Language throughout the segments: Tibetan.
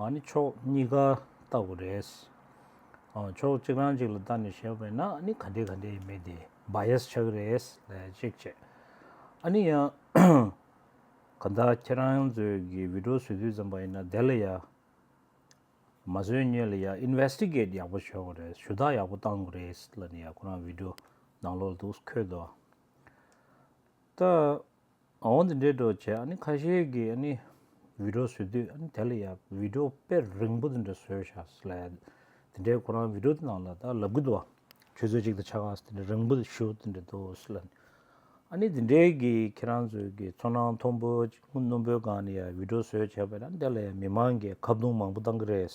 ཨཱ་ནི་ཕྱོགས་གཉིས་ཀ་ལྟ་བུ་རེད། ཕྱོགས་གཅིག་རང་གཅིག་ལ་ལྟ་ནས་བཤད་པས་ན་ཨཱ་ནི་ག་འདྲའི་ག་འདྲའི་ཡིན་མིན་དེ Bias ཆགས་རེད་ལན་གཅིག་བྱས། ཨཱ་ནི་ཡང། ག་ད་ཁྱེད་རང་ཚོས་གི་བིད་འགྲོ་བཟོས་དུས་ཙམ་པ་ཡིན་ན་དེ་ལ་ཡང། མ་བཟོས་སྙོད་ལ་ཡང Investigate ཡག་པོ་བྱེད་དགོས་རེད་ཞུ་དག་ཡག་པོ་བཏང་དགོས་རེད་ལན་ཡང་ཁོ་རང་བིད་འགྲོ་ནང་ལོག་ལ་འདུག་ཁོས་དོ། ད། འོང་དེ་འདྲའི་སྒྲོག་བྱས་ཨ་ནི་ཁ་ཤས་ཀྱི་ཨ་ནི་བི་དྲོ་བཟོས་དུས་ཨ་ནི་དལ་ལ་ཡ་བི་དྲོ་དཔེ་རིང་པོ་དེ་འདྲ་བཟོས་བཞག་སི་ལ་ཡ་དེ་འདྲའི་ཁོ་རང་བི་དྲོ་དེ་ནང་ལ་ད་ལབ་གི་འདུག་བ་ཁྱོད་ཚོས་ཅིག་ད་ཆ་ག་སི་དེ་འདྲ་རིང་པོ་དེ་ཞུ་དེ་འདྲ་འདུག་སི་ལ་ཨ་ནི་དེ་འདྲའི་གི་ཁྱེད་རང་ཚོས་གི་ཚོར་སྣང་མཐོང་པོ་སྣུམ་པོའི་སྒང་ནི་ཡ་བི་དྲོ་བཟོས་བྱས་པ་ཨ་ནི་དལ་ལ་ཡ་མི་མང་གི་ཁ་བརྡུང་མང་པོ་བཏང་གི་རེད།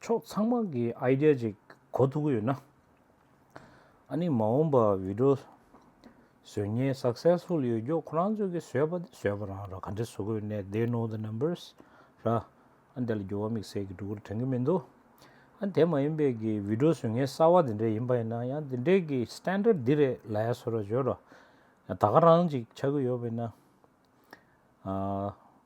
ཕྱོགས་ཚང་མ་གི idea ཅིག་གོ་ཐུབ་ཀྱི་ཡོད་ན། ཨཱ་ནི་མ་འོངས་པར་བི་དྲོ་བཟོས་ཉེན successful ཡོད་རྒྱུ་ཁོ་རང་ཚོས་ཀྱི་བཟོས་པ་དེ་བཟོས་པ་རང་ར་ག་འདྲི་བཟོ་དགོས་ནས they know the numbers ར། ཨ་འདི་ལ་འགྱུར་བ་དམིགས་བསལ་གྱི་སྒྲོ་སྐུར་དྲན་གྱི་མི་འདུག་ཨ་དེ་མ་ཡིན་པའི་གི་བི་དྲོ་བཟོས་ཉེན་གསར་བ་དེ་འདྲས་ཡིན་པ་ཡིན་ན་ཡང་དེ་འདྲས་གི standard འདི་རེད་ལ་ཡ་བཟོ་ར་བཟོས་ར། ད་ག་རང་ཅིག་ཆགས་ཀྱི་ཡོད་པ་ཡིན་ན།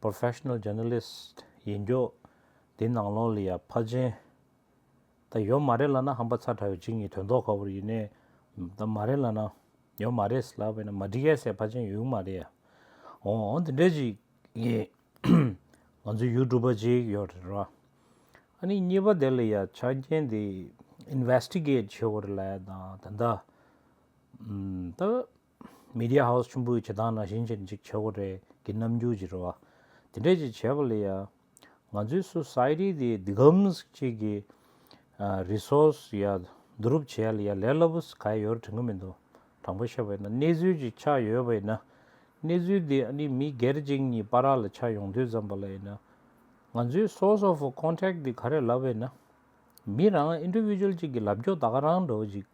Professional Journalist། ཡིན་མགྱོགས། དེ་ནང་ལོག་ལི་ཡ་ཕ་ཅན། ད་ཡོད་མ་རེད་ལ་ན་ཧམ་པ་ཚ་དྲ་བའི་གཅིག་གཉིས་དོན་ཐོག་ཁ་བོར་ཡིན་ནའི་ད་མ་རེད་ལ་ན་ཡོད་མ་རེད་ལ་བས་ན་མ་འགྲིག་ཡ་སའི་ཕ་ཅན་ཡོད་མ་རེད་ཡ་ཨོ་ཨོ་འདི་འདྲ་ཅིག་ཡིན། ང་ཚོའི་ཡུལ་གྲུ་པ་ཅིག་ཡོད་རེད་ར། ཨ་ནི་གཉིས་པ་དེ་ལ་ཡ་ཆ་རྐྱེན་དེ Investigate བྱེད་དགོས་རེད་ལ་ཡ་ད་ད། Media House ཆུན་པོའི་བྱེ་ཐང་ན་བཞིན་ཅིག་འཇིག་བྱེད་སྒོ་རེ་གི་རྣམ་འགྱུར་གྱི་རེ་བ་དེ་འདྲས་ཅིག་བྱས་པ་ལས་ཡ། ང་ཚོའི Society དེ་འདི་གམས་ཅིག་གི Resource ཡ་བསྡུ་རུབ་བྱས་ལ་ཡ་ལས་སླ་པོ་ག་ཡ་ཡོར་དྲན་གི་མི་འདུག་དྲང་པོ་བཤད་པ་ཡིན་ན་གནས་ཚུལ་ཅིག་ཆགས་ཡོད་པ་ཡིན་ན་གནས་ཚུལ་དེ་ཨ་ནི་མི་སྒེར་གཅིག་གཉིས་པ་ར་ལ་ཆགས་ཡོང་དུས་ཙམ་པ་ལ་ཡིན་ན། ང་ཚོའི Source of Contact དེ་ག་རེ་ལབ་པ་ཡིན་ན། མི་རང Individual ཅིག་གི་ལབ་རྒྱོ་ད་ག་རང་འགྲོ་ཅིག།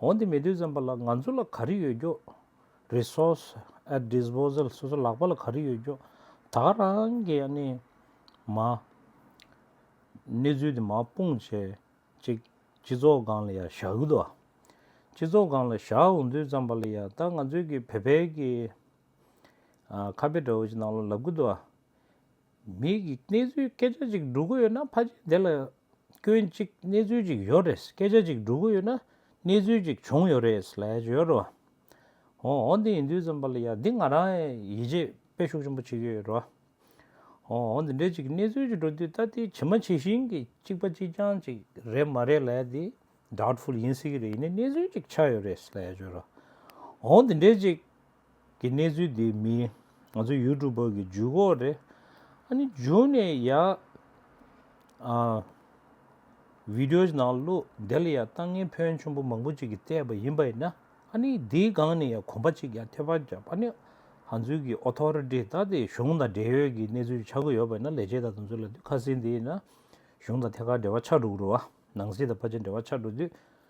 འོན་ཏེ་མི་དུས་ཙམ་པ་ལ་ང་ཚོ་ལ་ག་རེ་ཡོད་རྒྱུ། Resource at disposal སོ་སོ་ལག་པ་ལ་ག་རེ་ཡོད་རྒྱུ་ད་ག་རང་གི་ཡ་ནི་མ། གནས་ཚུལ་དེ་མ་སྤུངས་བྱེད་ཅིག་སྤྱི་ཚོགས་སྒང་ལ་ཡ་བཞག་གི་འདུག་ཨ། སྤྱི་ཚོགས་སྒང་ལ་བཞག་འོང་དུས་ཙམ་པ་ལ་ཡ་ད་ང་ཚོའི་གི་བོད་པའི་གི། ཨ་ཁ་དཔེ་འདྲ་བོ་ཞིག་ནང་ལ་ལབ་གི་འདུག་ཨ། མི་གིས་གནས་ཚུལ་སྐད་ཆ་ཅིག་སྒྲུག་གི་ཡོད་ན་ཕ་རྗེས་དེ་ལ་སྐྱོན་ཅིག་གནས་ཚུལ་ཅིག་ཡོད་རེད་སྐད་ཆ་ཅིག་སྒྲུག་གི་ཡོད་ན་གནས་ཚུལ་ཅིག་བྱུང་ཡོད་རེད་ལས་ཀྱི་ཡོད་རེད་བ། འོ་འོ་འདི་ཡིན་དུས་ཙམ་པ་ལ་ཡ་འདི་ང་རང་ཡིད་ཆེས་དཔེ་ཤུགས་ཆེན་པོ་བྱེད་ཀྱི་ཡོད་རེད་བ། འོ་འོ་འདི་འདྲའི་ཅིག་གནས་ཚུལ་ཅིག་སྒྲུག་དུས་ད་ལྟའི་ཇི་མ་ཇི་བཞིན་གྱི་གཅིག་པ་གཅིག་རྐྱང་ཅིག་རེད་མ་རེད་ལས་འདི Doubtful ཡིན་སྲིད་ཀྱི་རེད་ཡིན་ནའི་གནས་ཚུལ་ཅིག་ཆགས་ཡོད་རེད་ལས་ཀྱི་ཡོད་རེད་བ། འོ་འོ་འདི་འདྲའི་ཅིག། གི་གནས་ཚུལ་འདི་མིན། ང་ཚོ་ཡུལ་གྲུ་བོད་ཀྱི་འཇུག་འོག་རེད། ཨ་ནི་འཇུག་ནས་ཡ། བིདེའོ་ནང་བླུག་དེ་ལ་ཡ་ལྟ་ངན་ཕོན་ཆུང་པོ་མང་པོ་ཅིག་གིས་བལྟས་པ་ཡིན་པ་ཡིན་ན་ཨ་ནི་དེའི་སྒང་ནས་ཡ་གོམ་པ་ཅིག་ཡ་ཐོད་པ་བརྒྱབ་ཨ་ནི་ང་ཚོའི་གི་ཨོ་ཐོ་རི་ཏི་ད་དེ་གཞུང་དང་འབྲེལ་ཡོད་ཀྱི་གནས་ཚུལ་ཆ་དགོས་ཡོད་པ་ཡིན་ན་ལས་བྱེད་དང་དེ་ཚོ་ལ་དུས་ཁ་སིན་དེ་ཡིན་ན་གཞུང་དང་ཐད་ཀར་འབྲེལ་བ་ཆགས་འགྲོ་གི་རུ་ཨ་ནང་སྲིད་དང་ཕ་ཆེ་འབྲེལ་བ་ཆགས་འགྲོ་དུས།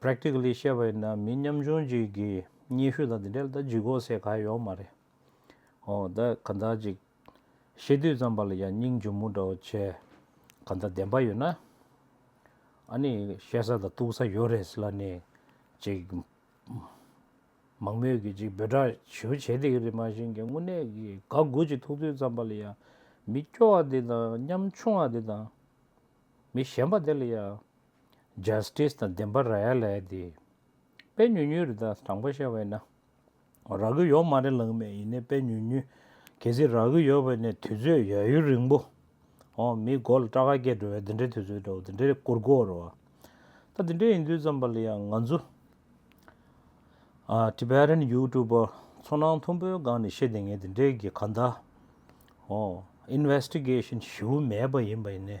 Practically བཤད་པ་ཡིན་ན་མི་ཉམ་ཆུང་ཅིག་གི་སྙན་ཞུ་དང་དེ་འདྲ་ལྟ་ཇུས་གོ་སའི་ག་ཡོག་མ་རེད་ཧོ་ད་ག་འདྲ་ཅིག་ཤེས་དུས་ཙམ་པ་ལ་ཡང་སྙིང་ཇོ་མོ་འདྲ་བོ་བྱས་ག་འདྲ་བདེན་པ་ཡོད་ན་ཨ་ནི་བཤད་ས་དང་གཏུག་ས་ཡོད་རེད་ལ་ནི་ཅིག་མང་མོས་ཀྱི་ཅིག་འབོད་སྒྲ་ཞུ་བྱེད་དེ་གི་རེད་མ་བཞིན་གི་དངོས་གནས་ཀྱི་དགའ་དགུ་ཅིག་ཐུག་དུས་ཙམ་པ་ལ་ཡང་མི་སྐྱོ་བ་དེ་དང་ཉམ་ཆུང་བ་དེ་དང་མི་ཞན་པ་དེ་ལ་ཡང Justice དང་བདེན་པ་ར་ཡ་ལའི་དེ། དཔེ་ཉུལ་ཉུལ་རེད་ད་དྲང་པོ་བཤད་བས་ན། རག་གི་ཡོག་མ་རེད་ལངས་མེད་ཡིན་ནའི་དཔེ་ཉུལ་ཉུལ། གལ་སྲིད་རག་གི་ཡོག་བས་ནའི་དུས་ཚོད་ཡ་ཡུལ་རིང་པོ། ཧོ་མིའི་མགོ་ལ་སྐྲ་ཁ་སྐྱེས་འགྲོ་བས་འདི་འདྲའི་དུས་ཚོད་འགྲོ་འདི་འདྲའི་སྐོར་སྐོར་རོ། ད་འདི་འདྲའི་ཡིན་དུས་ཙམ་པ་ལ་ཡང་ང་ཚོ། Tibetan YouTuber ཚོ་ནང་མཐོན་པོའི་སྒང་ནས་ཤེས་བདེ་ངས་འདི་འདྲའི་གི་ག་ད། ཧོ Investigation ཞིབ་བོ་མེད་པ་ཡིན་པ་ཡིན་ནའི།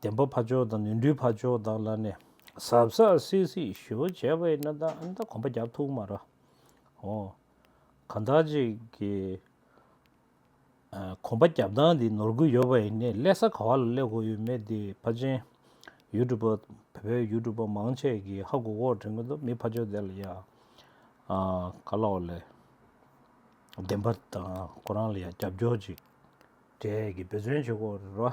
བདེན་པ་འཕགས་མཆོག་དང་ནོན་འཁྲུལ་འཕགས་མཆོག་དག་ལ་ནི། ཟབ་ས་སིད་སིད་ཞུ་བྱས་པའི་ན་ད་ཨ་ད་གོམ་པ་རྒྱབ་ཐུག་མ་ར་ཧོ། གང་དག་ཅིག་གིས་གོམ་པ་རྒྱབ་སྟངས་འདི་ནོར་གུ་ཡོད་པ་ཡིན་ནས་ཀླད་ས་ག་བ་ལ་ཀླད་གོ་ཡོད་མེད་འདི་ཕ་ཆེན། ཡུལ་གྲུ་པ་བོད་པའི་ཡུལ་གྲུ་པ་མང་ཆེ་གིས་ཧ་གོ་གོ་དྲན་གི་འདུག་མི་ཕ་ཆོ་དེ་ལ་ཡ་ག་ལ་བ་ལས་བདེན་པ་དང་གོ་རང་ལ་ཡ་རྒྱབ་སྐྱོར་ཅིག་འདྲས་གི་འབད་བརྩོན་བྱེད་གོ་ར།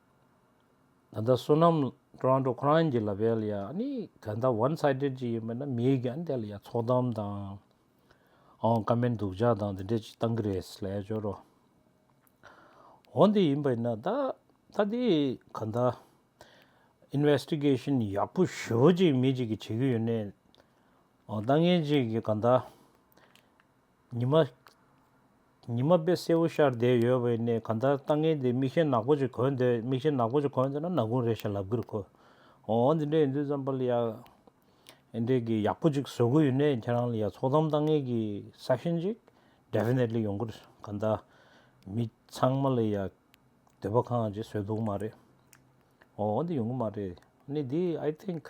ད་ལྟ་བསོད་ནམས Toronto ཁོ་རང་གྱི་ལ་བལ་ཡ་ནི་ད་ལྟ One Sided ཅིག་ཡིན་པ་ན་མིའི་ག་འདི་ལ་ཡ་ཚོགས་གཏམ་དང་ཨང་ཀ་མེན་སྡུག་ཅག་དང་དེ་འདྲས་ཅིག་གཏང་གི་རེད་སི་ལས་ཅོ་རོ། འོ་འདི་ཡིན་པ་ཡིན་ན་ད་ད་འདི་ག་ད Investigation ཡག་པོ་ཞོ་ཅིག་མི་ཅིག་གི་བྱེད་ཀྱི་ཡོད་ནའི་ཨང་ད་ངན་ཅིག་གི་ག་ད་ཉི་མ། ཉི་མ་དཔེ་སེར་བོ་ཤར་བསྡད་ཡོད་པའི་གནས་གང་ལྟར་ལྟ་ངན་འདི་མིག་ཤེལ་ནག་པོ་ཅིག་གོན་འདོད་མིག་ཤེལ་ནག་པོ་ཅིག་གོན་འདོད་ན་ན་གུང་རེ་ཞིག་ལབ་གི་རུ་ཁོ། འོ་འོ་འདི་འདྲའི་ཡིན་དུས་ཙམ་པ་ལི་ཡ། ཨེ་འདྲས་གི་ཡག་པོ་ཅིག་བཟོ་གི་ཡོད་ནས་ཁྱེད་རང་ལི་ཡ་ཚོགས་གཏམ་ལྟ་ངན་གི section ཅིག definitely ཡོང་གི་རེད་གང་ལྟར་མི་ཚང་མ་ལི་ཡ་འདོད་པ་གང་ཅིག་བཟོས་འདུག་མ་རེད། འོ་འོ་འདི་ཡོང་གི་མ་རེད་ནི་འདི i think།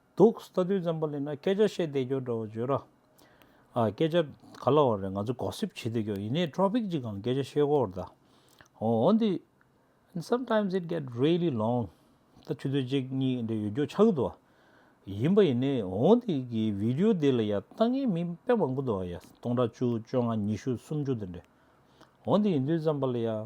འདུག་ལྟ་དུས་ཙམ་པོ་ལེན་ན་སྐད་ཆ་བཤད་བསྡད་རྒྱུ་འདྲ་བ་བརྗོད་ར། ཨ། སྐད་ཆ་ག་ལ་བ་རེད་ང་ཚོ Gossip བྱེད་བསྡད་རྒྱུ་ཡིན་ནའི Topic གཅིག་གམ་སྐད་ཆ་བཤད་ཁོ་བར་གདའ། འོན་ཏེ། And sometimes it get really long ད་ཆུ་ཚོད་གཅིག་གཉིས་འདྲ་ཡོད་རྒྱུ་ཆགས་ཀྱི་འདུག་ཨ། ཡིན་པ་ཡིན་ནའི་འོན་ཏེ་གི Video འདི་ལ་ཡ་ལྟ་ངའི་མིང་དཔེ་མང་པོ་འདུག་ཨ་ཡ་སྟོང་ཕྲག་བཅུ་བཅོ་ལྔ་ཉི་ཤུ་སུམ་ཅུ་འདི་འདྲ། འོན་ཏེ་ཡིན་དུས་ཙམ་པོ་ལ་ཡ།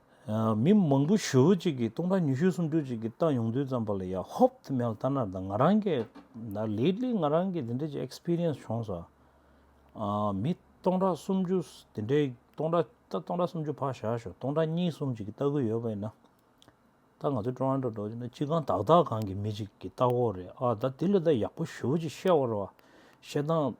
མི་མང་པོ་ཞོལ་བུ་གཅིག་གིས་སྟོང་ཕྲག་ཉི་ཤུ་སུམ་ཅུ་གཅིག་གིས་བཏང་ཡོང་དུས་ཙམ་པོ་ལ་ཡ་ཧོབ་ཏུ་མལ་ལྟ་ནར་དང་ང་རང་གིས་ན་ལེཏལི་ང་རང་གིས་དེ་འདྲའི་ཅིག Experience བྱུང་སོང། མི་སྟོང་ཕྲག་སུམ་ཅུ་དེ་འདྲའི་སྟོང་ཕྲག་ད་སྟོང་ཕྲག་སུམ་ཅུ་ཕར་བཞག་ཞོག་སྟོང་ཕྲག་གཉིས་གསུམ་ཅིག་གིས་ལྟ་གི་ཡོད་པ་ཡིན་ན། ད་ང་ཚོ Toronto འགྲོ་རྒྱུ་ན་སྤྱི་ཁང་དག་དག་གང་གི་མི་ཅིག་གིས་ལྟ་གོ་རེད་ཨ་ད་དེ་ལས་ད་ཡག་པོ་ཞོལ་བུ་གཅིག་བཤད་བར་བ་བཤད་སྟངས་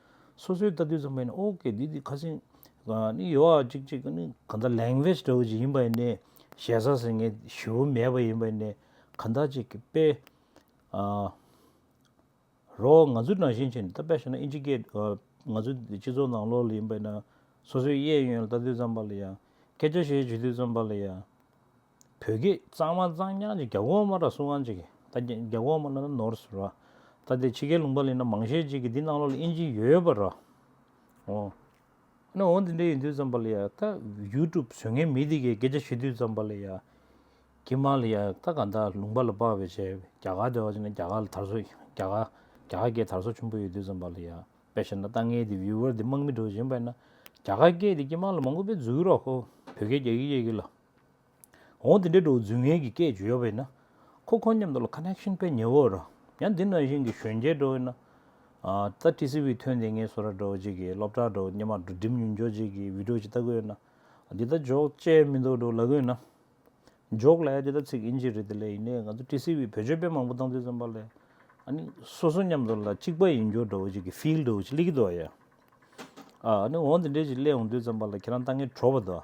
སོ་སོའི་ལྟ་དུས་ཙམ་མིན་ཨོ་ཀེ་འདི་འདི་ཁ་སིང། ནི་ཡོད་ཨ་གཅིག་གཅིག་ནི་ག་ད language འདྲ་བོ་ཅིག་ཡིན་པ་ཡིན་ནའི་ཞེ་ས་ཟིན་ངེས་ཞུ་བོ་མེད་པ་ཡིན་པ་ཡིན་ནའི་ག་ད་ཅིག་གི་པེ། རོགས་ང་ཚོའི་ནང་བཞིན་ཆེན་ད་པེ་ཞེ་ན་ཨིན་ཇི་གེ་ང་ཚོའི་སྤྱི་ཚོགས་ནང་ལོགས་ལ་ཡིན་པ་ཡིན་ན་སོ་སོའི་གཡས་གཡོན་ལ་ལྟ་དུས་ཙམ་པ་ལ་ཡང་སྐད་ཆ་བཤད་བྱེད་དུས་ཙམ་པ་ལ་ཡང། བོད་སྐད་གཙང་མ་གཙང་རྐྱང་གཅིག་རྒྱ་གོང་མ་ར་སུ་ཝང་གཅིག་ད་རྒྱ་རྒྱ་གོང་མ་ནོར་ནོར་སུ་ར་ད་དེ་ཕྱི་རྒྱལ་ལུང་པ་ལི་ན་མང་ཤེས་གཅིག་གི་འདི་གནང་ལོག་ལ་དབྱིན་ཇི་ཡོད་པ་ར་ཨོ། ཨ་ནུ་འོ་འདི་འདྲ་ཡིན་དུས་ཙམ་པ་ལི་ཡ་ད་ཡུ་ཀྲུབ་བཟོས་མཁན་མི་དེ་གས་སྐད་ཆ་ཤོད་དུས་ཙམ་པ་ལི་ཡ་ཀྱི་མ་ལི་ཡ་ད་ག་ད་ལུང་པ་ལ་དཔག་བའི་ཆེད་རྒྱ་གར་དེ་བ་ཅིག་ན་རྒྱ་གར་ལ་དར་སོ་རྒྱ་གར་རྒྱ་གར་སྐད་དར་སོ་ཆུན་པོ་ཡོད་དུས་ཙམ་པ་ལི་ཡ་དཔེ་བཞེད་ན་ད་ངའི་དེ viewer དེ་དམག་མི་འགྲོ་བཞིན་པ་ཡིན་ན་རྒྱ་གར་སྐད་དེ་ཀྱི་མ་ལ་མང་གོ་པའི་རྫུ་གུ་ར་ཧོ་བོད་སྐད་རྒྱ་གི་ཡེ་གི་ལ། འོ་དེ་འདྲའི་འགྲོ་རྫུན་ངན་གྱི་སྐད་བརྗོད་ཡོད་པས་ན། ཁོ་ཁོ་མཉམ་དུ་ལ Connection སྤེལ་ཉེ་བོ་རུ། ཡང་འདི་ནང་བཞིན་གྱི་གཞོན་སྐྱེས་འགྲོ་བས་ན། ད TCV ཐོན་དེ་ངས་སོ་ར་འགྲོ་བྱེད་ཀྱི་སློབ་གྲྭ་འགྲོ་སྙེ་མ་འགྲོ་འགྲིམ་ཉུལ་འཇོག་བྱེད་ཀྱི Video ཅིག་ལྟ་དགོས་ཡོད་ན། འདི་ལྟ་འཇོག་བཅས་མི་འདུག་འགྲོ་ལ་གོས་ན། འཇོག་ལ་ཡ་འདི་ལྟ་ཚིག་ཨིན་ཇི་རེད་དེ་ལས་ཡིན་ནའི་ང་ཚོ TCV བོད་ཆོས་དཔེ་མང་པོ་བཏང་དུས་ཙམ་པ་ལས། ཨཱ་ནི་སོ་སོ་མཉམ་དུ་ལ་གཅིག་པ་ཡིན་འགྱོག་འགྲོ་བྱེད་ཀྱི Feel འགྲོ་བྱེད་ལི་གི་འདུག་ཨ་ཡ། ཨཱ་ནི་འོ་འདི་འདྲའི་ཅིག་གླས་འོང་དུས་ཙམ་པ་ལ་ཁྱེད་རང་ལྟ་ངན་གྲོ་བ་འདུག་ཨ།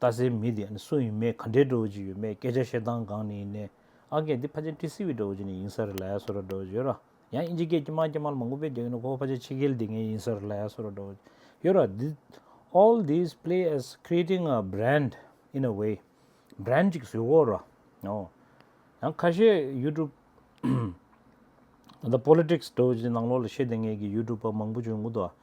རྟ་སའི་མི་དེ་སུ་ཡིན་མེད་ག་འདྲའི་འགྲོ་བ་ཅིག་ཡོད་མེད་སྐད་ཆ་བཤད་སྟངས་གང་ནས་ཡིན་ནས་ཨ་སྐད་འདི་ཕ་ཆེན་ཏི་སི་བའི་འགྲོ་བ་ཅིག་ནས་ཡིན་ས་རེད་ལ་ཡ་སོ་ར་འགྲོ་བ་ཅིག་ཡོད་ར་ཡང་ཨིན་ཇི་སྐད་ཀྱི་མ་སྐད་མ་ལ་མ་མགོ་བེད་རྒྱག་གི་འདུག་ཁོ་བོ་ཕ་ཆེན་ཕྱི་རྒྱལ་འདི་ངའི་ཡིན་ས་རེད་ལ་ཡ་སོ་ར་འགྲོ་བ་ཅིག་ཡོད་ར་འདི All these play as creating a brand in a way Brand ཅིག་བཟོས་གོ་ར་ཨོ་ཡང་ཁ་ཤས YouTube The politics འགྲོ་བ་ཅིག་ནང་ལོག་ལ་བཤད་དེ་ངེད་ཀྱི YouTube པ་མང་པོ་བྱུང་གོ་འདུག་ཨ།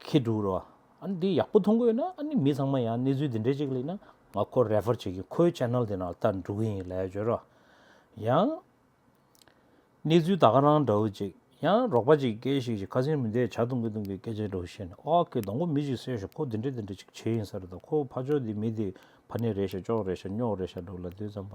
ཁྱི་དྲུག་རོ། ཨཱ་འདི་ཡག་པོ་མཐོང་གི་ཡོད་ན་ཨཱ་ནི་མི་ཚང་མ་ཡང་གནས་ཚུལ་འདི་འདྲའི་ཅིག་ལ་ཡིན་ན་ང་ཁོ Refer བྱེད་ཀྱི་ཁོའི Channel དེ་ནང་ལྟ་འགྲོ་གི་ཡིན་ལས་བྱོས་རོགས། ཡང་གནས་ཚུལ་ད་ག་རང་འདྲ་བོ་ཅིག་ཡང་རོགས་པ་ཅིག་སྐད་ཤིག་ཅིག་ཁ་སེང་མི་འདས་བྱ་སྟོང་གི་སྟོང་གི་སྐད་ཆ་འདྲ་བོ་བཤད་ན་ཨོ་ཁེ་དང་པོ་མི་ཞིག་གསོས་ཤོག་ཁོ་འདི་འདྲ་འདི་འདྲ་ཅིག་བྱས་ཡིན་ས་རེད་དོ་ཁོ་ཕ་ཅོག་འདི་མི་འདི་ཕ་ནི་རེད་ཤག་ཅོག་རེད་ཤག་སྙོག་རེད་ཤག་འགྲོ་གི་ལ་དུས་ཙམ་པ་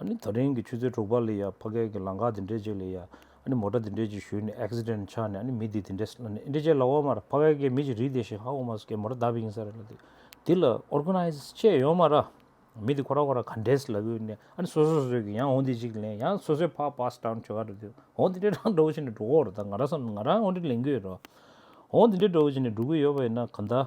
ཨ་ནི་ད་རིང་གི་ཆུ་ཚོད་དྲུག་པ་ལ་ཡ་ཕ་གད་ཀྱི་ལང་ཀ་དེ་འདྲས་ཅིག་ལ་ཡ་ཨ་ནི་མོ་ཏྲ་དེ་འདྲས་ཅིག་བཞུད་ནས accident ཆགས་ནས་ཨ་ནི་མི་དེ་དེ་འདྲས་ཨ་ནི་ཨེ་འདྲས་ཅེས་ལ་འོག་མར་ཕ་གད་ཀྱི་མི་ཞིག་རིག་བསྡད་ཤིང་ཧ་འོག་མ་སུ་ཀའི་མོ་ཏྲ་བདའ་བི་ཡིན་ས་རེད་ལ་དེ་དེ་ལ organize བཅས་ཡོང་མ་ར། མི་དེ་ཁོ་ར་ཁོ་ར་ག་འདྲས་ལ་གུས་ནས་ཨ་ནི་སོ་སོ་སོ་སོས་གི་ཡང་འོང་དེ་ཅིག་ལེན་ཡང་སོ་སོས་ཕར pass down བྱོ་ག་ར་དེ་འོང་དེ་འདྲས་རང་འགྲོ་བོ་བྱས་ནས་འགྲོ་གོ་ར་ད་ང་ར་སམ་ང་རང་འོང་དྲིས་ལེན་གུས་ཡོད་ར་འོང་དེ་འདྲས་འགྲོ་བོ་བྱས་ནས་འགྲོ་གི་ཡོད་པ་ཡིན་ན་ག་འདའ།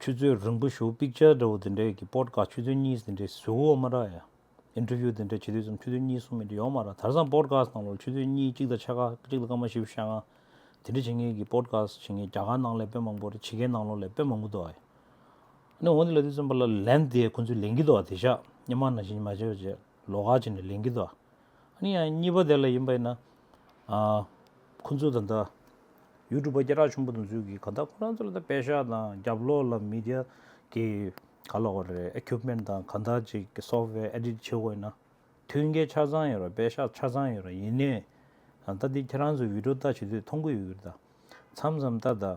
ཆུ་ཚོད་རིང་པོ་བཞུགས picture འདྲ་བོ་དེ་འདྲའི་གི་པོར་དགའ་ཆུ་ཚོད་གཉིས་དེ་འདྲའི་བཟོས་འོག་མ་ར་ཡ། interview དེ་འདྲ་བྱེད་དུས་ཙམ་ཆུ་ཚོད་གཉིས་གསུམ་མི་འདྲ་ཡོང་མ་ར་དར་སང་པོར་དགའ་སྟངས་ལོར་ཆུ་ཚོད་གཉིས་གཅིག་དང་ཕྱེད་ཀ་གཅིག་དང་སྐར་མ་བཞི་བཞི་ལྔ་དེ་འདྲ་བྱེད་ངེས་གི་པོར་དགའ་བྱེད་ངེས་རྒྱ་གར་ནང་ལས་དཔོན་མང་པོ་རེད་ཕྱི་རྒྱལ་ནང་ལོར་ལས་དཔོན་མང་པོ་འདུག་ཨ་ཡ། ནས་འོང་དེ་ལས་དུས་ཙམ་པ་ལ་ལན་དེ་ཁོང་ཚོས་ལེན་གི་འདུག་ཨ་དེ་ཤག་སྙན་མ་ན་བྱེད་མ་བྱེད་བྱེད། ལོགས་ཁ་ཅིག་ནས་ལེན་གྱི་འདུག་ཨ་ནི་ཡང་གཉིས་པ་དེ་ལ་ཡིན་པ་ཡིན་ན། ཁོང་ཚོས་ད་ལྟ་ཡུལ་གྲུ་པ་སྐད་གྲགས་ཆེན་པོ་དང་ཚུལ་གྱིས་གང་ལྟར་ཁོ་རང་ཚོ་ལ་ད་པད་ཤག་དང་རྒྱབ་ལོགས་ལ་མི་དེ་གི་ག་ལ་བ་རེད Equipment དང་གང་ལྟར་ཅིག་གི Software Edit བྱེད་དགོས་ཡིན་ན། མཐུན་རྐྱེན་ཆ་ཚང་ཡོད་ར་པད་ཤག་ཆ་ཚང་ཡོད་ར་ཡིན་ནའི། ད་ལྟ་འདི་ཁྱེད་རང་ཚོས Video ལྟ་བྱེད་དུས་མཐོང་གི་ཡོད་གི་ད། མཚམས་མཚམས་ལྟ་ད།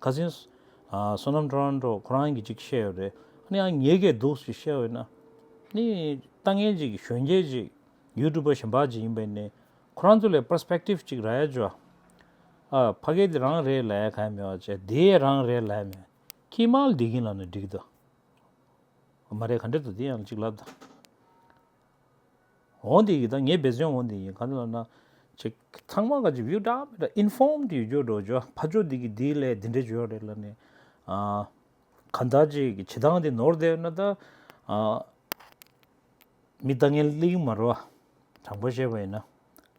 ཁ་སེང། བསོད་ནམས་ཁྲོ་རང་ཁྲོ་ཁོ་རང་གིས་ཅིག་བཤད་ཡོད་རེད། ནི་ཨང་ཉེས་ཀས་འདུག་ཅིག་བཤད་ཡོད་ན། ནི་ལྟ་ངན་ཅིག་གཞོན་སྐྱེས་ཅིག YouTube པ་ཞན་པ་ཅིག་ཡིན་པས་ནི། ཁོ་རང་ཚོ་ལས Perspective ཅིག་ར་ཡ་ཅོ། ཨ་ཕ་གས་འདི་རང་རེད་ལ་ཡ་ཁ་ཡ་མེད་བ་ཅེ་འདི་ཡ་རང་རེད་ལ་ཡ་མེད། ཁྱིས་མ་ལ་འདི་གིན་ལ་ནི་འགྲིག་ད། མ་རེད་ག་འགྲིག་ད་འདི་ཡང་ཅིག་ལབ་ད། འོང་དེ་ཡིག་དང་ངའི་འབད་བརྩོན་འོང་དེ་ཡིན་ག་ལ་ན། ཅེས་ཚང་མ་ག་ཅིག་བེའུ་འདྲ་མི་འདྲ inform དུ་ཡོད་རྒྱུ་འགྲོ་རྒྱུ་ཕ་ཅོ་འདི་གིས་འདིའི་སླད་འདི་འདྲས་བརྗོད་རེད་ལ་ནི། གང་ལྟར་ཅིག་གི་བྱེད་སྟངས་དེ་ནོར་བསྡད་ཡོད་ན་ད། མི་ལྟ་ངན་གླིང་མ་རུ་དྲང་པོ་བཤད་པ་ཡིན་ན།